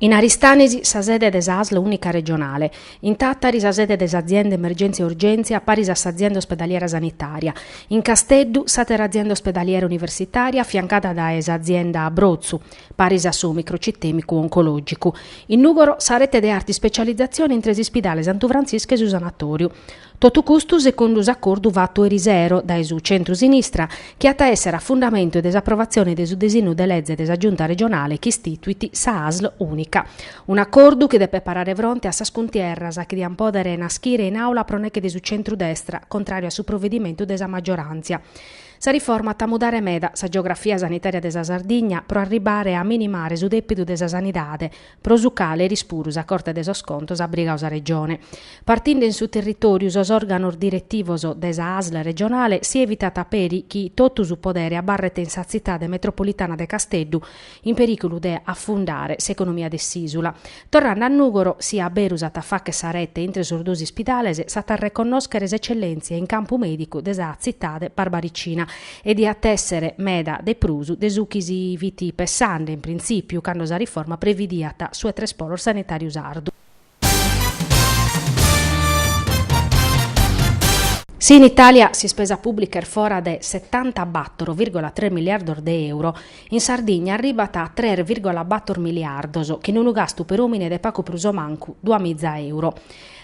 In Aristanisi sa sede de sa asl unica regionale, in Tàtari sa sede de s'azienda Emergenzia e Urgenzia paris a s'azienda ospedaliera sanitaria, in Casteddu s'àtera azienda ospedaliera universitaria affiancada dae s'azienda Brotzu paris a su microcitemicu oncològicu, in Nùgoro sa rete de arta ispecializatzione intre s'ispidale Santu Frantziscu e su sanatòriu. Totu custu segundu s'acordu fatu erisero dae su centru-sinistra chi at a èssere a fundamentu de s'aprovatzione de su disinnu de leze de sa Giunta regionale chi istituit sa Asl ùnica. Un'acordu chi depet parare fronte a sas cuntierras chi diant pòdere naschire in Àula pro neche de su centru-destra, contràriu a su provedimentu de sa maggioràntzia. Sa riforma at a mudare meda sa geografia sanitària de sa Sardigna pro arribare a minimare su dèpidu de sa sanidade, pro su cale eris puru sa Corte de sos Contos at brigadu sa Regione. Partinde in su territòriu sos òrganos diretivos de sa Asl regionale si evitat peri chi totu su podere abarret in sa Tzitade metropolitana de Casteddu in perìculu de afundare s'economia de s'Ìsula. Torrande a Nùgoro, si a beru s'at a fàghere sa rete intre sos duos ispidales, s'at a reconnòschere s'etzellèntzia in campu mèdicu de sa Tzitade barbaricina e diat èssere meda de prus de su chi si fit pessande in printzìpiu cando sa riforma previdiat su 'e tres polos sanitàriu sardu. Si in Itàlia s'ispesa pùblica est fora de setantabator vìrgola tres miliardos de euro, in Sardigna arribat a tres vìrgola bator miliardos, chin unu gastu per òmine de pagu prus o mancu duamiza euro.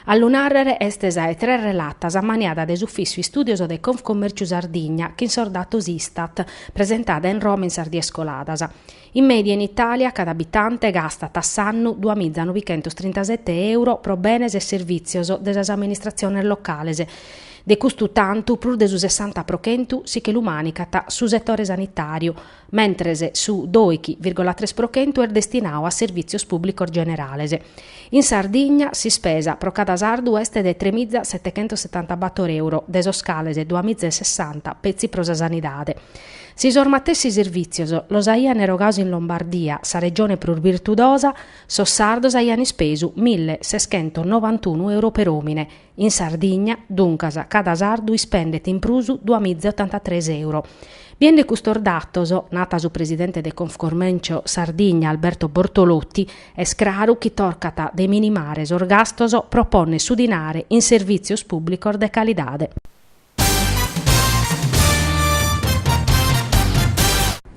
A lu nàrrere est sa 'e tres relatas ammaniada de s'Ufìssiu Istùdios de Confcommèrciu Sardigna chin sos datos Istat, presentada in Roma in sas dies coladas. In mèdia in Itàlia cada abitante gastat a s'annu dua miza novichentos trintasete euro pro benes e servìtzios de sas amministratziones locales, de custu tantu prus de su sessanta pro chentu si che lu mànicat su setore sanitàriu, mentres su doighi vìrgola tres pro chentu est destinadu a servìtzios pùblicos generales. In Sardigna s'ispesa pro cada sardu est de tre miza setechentos setantabator euro, de sos cales dua miza e sessanta petzi pro sa sanidade. Si sos matessi servìtzios los aian erogados in Lombardia, sa regione prus virtudosa, sos sardos aian ispesu mille seschentos novantunu euro per òmine, In Sardigna, duncas, cada sardu ispendet in prus dua miza e otantatres euro. Biende custos datos, nat su presidente de Confcommercio Sardigna Alberto Bortolotti, est craru chi tocat de minimare sos gastos pro pònnere su dinare in servìtzios pùblicos de calidade.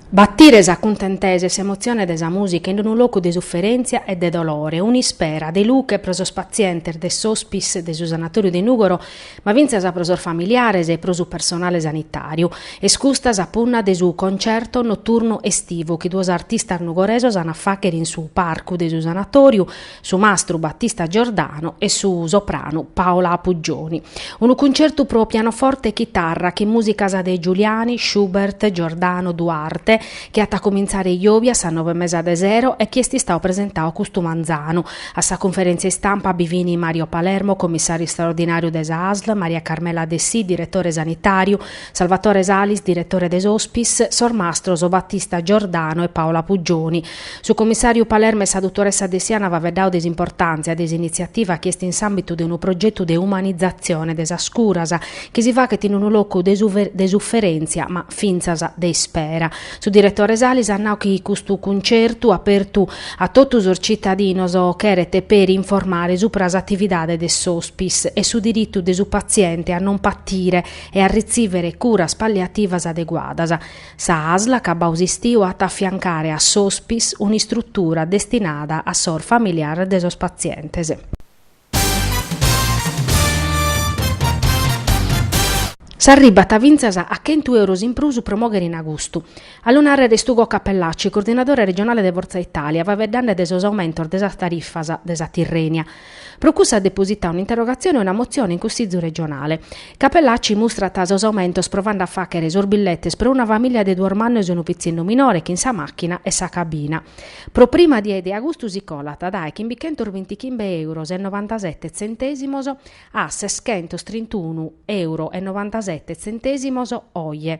Batire sa cuntentesa e s'emotzione de sa mùsica in unu locu de suferèntzia e de dolore, un'ispera de luche pro sos patzientes de s'Hospice de su Sanatòriu de Nùgoro, ma fintzas pro sos familiares e pro su personale sanitàriu, est custa sa punna de su concerto noturnu estivu chi duos artistas nugoresos ant a fàghere in su parcu de su Sanatòriu, su mastru Battista Giordano e su sopranu Paola Puggioni. Unu cuncertu pro pianoforte e chitarra chin musicas de Giuliani, Schubert, Giordano, Duarte, chi at a comintzare jòvia a sas nove e mesa de sero e chi est istadu presentadu custu manzanu. A sa cunferèntzia istampa bi fin Mario Palermo, commissàriu istraordinàriu de sa ASL, Maria Carmela Dessì, diretore sanitàriu, Salvatore Salis, diretore de s'Hospice, sos mastros Battista Giordano e Paola Apuggioni, Su commissàriu Palermo e sa dutoressa Dessì ant faeddadu de s'importàntzia de s'initziativa chi est in s'àmbitu de unu progetu de umanizatzione de sas curas chi si faghet in unu locu de suferèntzia ma fintzas de ispera. Su diretore Salis at nau chi custu cuncertu apertu a totu sos citadinos cheret peri informare supra s'atividade de s'Hospice e su diritu de su patziente a non patire e a ritzìvere curas palliativas adeguadas. Sa ASL a cabu de s'istiu at a afiancare a s'Hospice un'istrutura destinada a sos familiares de sos patzientes. S'arribat fintzas a chentu euros in prus pro mogher in agustu. A lu nàrrere est Ugo Cappellacci, coordinadore regionale de Forza Italia, faveddande de sos aumentos de sas tarifas de sa Tirrenia, Pro cussu at depositadu un'interrogatzione e una motzione in Cussìgiu regionale. Cappellacci mustrat sos aumentos provande a fàghere sos billetes pro una famìlia de duos mannos e unu pitzinnu minore chin sa màchina e sa cabina. Pro prima die de agustu si colat dae chimbichentos bintichimbe èuros e novantasete tzentèsimos a seschentos trintunu èuro e novantasete tzentèsimos oje.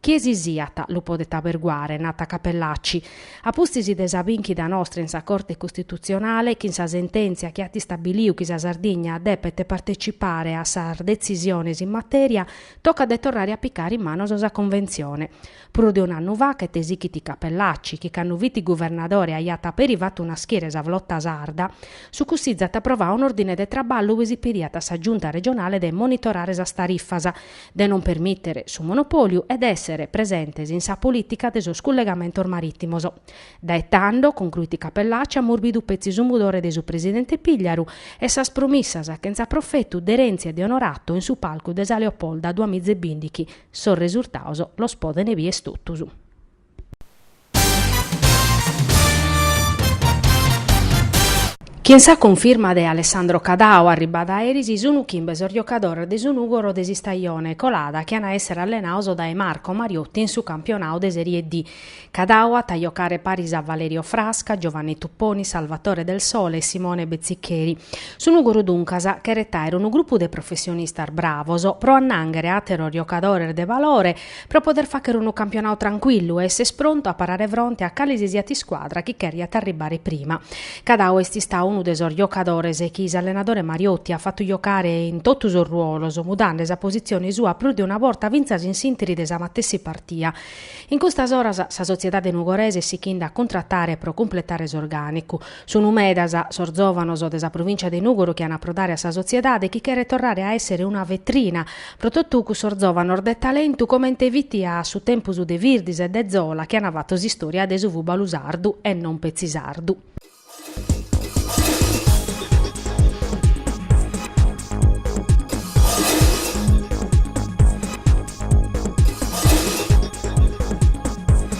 Chie si siat lu podet aberguare, nat Cappellacci, a pustis de sa binchida nostra in sa Corte Custitutzionale chin sa sentèntzia chi at istabiliu chi sa Sardigna depet partecipare a sas detzisiones in matèria, tocat de torrare a picare in manos sa Conventzione. Prus de un'annu faghet, esighit Cappellacci, chi cando fit guvernadore aiat peri fatu naschire sa Flota Sarda, su Cussizu at aprovadu un'òrdine de traballu ue si pediat a sa Giunta Regionale de monitorare sas tarifas, de non permìtere su monopòliu e de èssere presentes in sa polìtica de sos cullegamentos marìtimos. Dae tando, concruit Cappellacci, amus bidu petzi su mudore de su presidente Pigliaru e sas promissas chentza profetu de Renzi e de Onorato in su palcu de sa Leopolda duamiza e bindighi, sos resurtados los podene bier totus. Chin sa cunfirma de Alessandro Cadao arribada eris sunu chimbe sos giocadores de su Nùgoro de s'istajone colada chi an a èssere allenados dae Marco Mariotti in su campionadu de Serie D. Cadao at a giocare paris a Valerio Frasca, Giovanni Tupponi, Salvatore Del Sole e Simone Bezziccheri. Su Nùgoro duncas cheret àere unu grupu de professionistas bravos pro annànghere àteros giocadores de valore pro poder fàghere unu campionadu trancuillu e esser prontu a parare fronte a cale si siat iscuadra chi cheriat arribare prima. Cadao est istadu unu de sos giocadores chi s'allenadore Mariotti at fatu giocare in totu sos ruolos, mudande sa positzione sua prus de una borta fintzas in s'interi de sa matessi partia. In custas oras sa sotziedade nugorese est sighende a cuntratare pro cumpletare s'orgànicu. Sunu medas sos zòvanos de sa provìncia de Nùgoro chi an a aprodare a sa sotziedade chi cheret torrare a èssere una vetrina pro totu cussos zòvanos de talentu comente fit a su tempus de Virdis e de Zola chi an fatto s'istòria de su fùbalu sardu e non petzi sardu.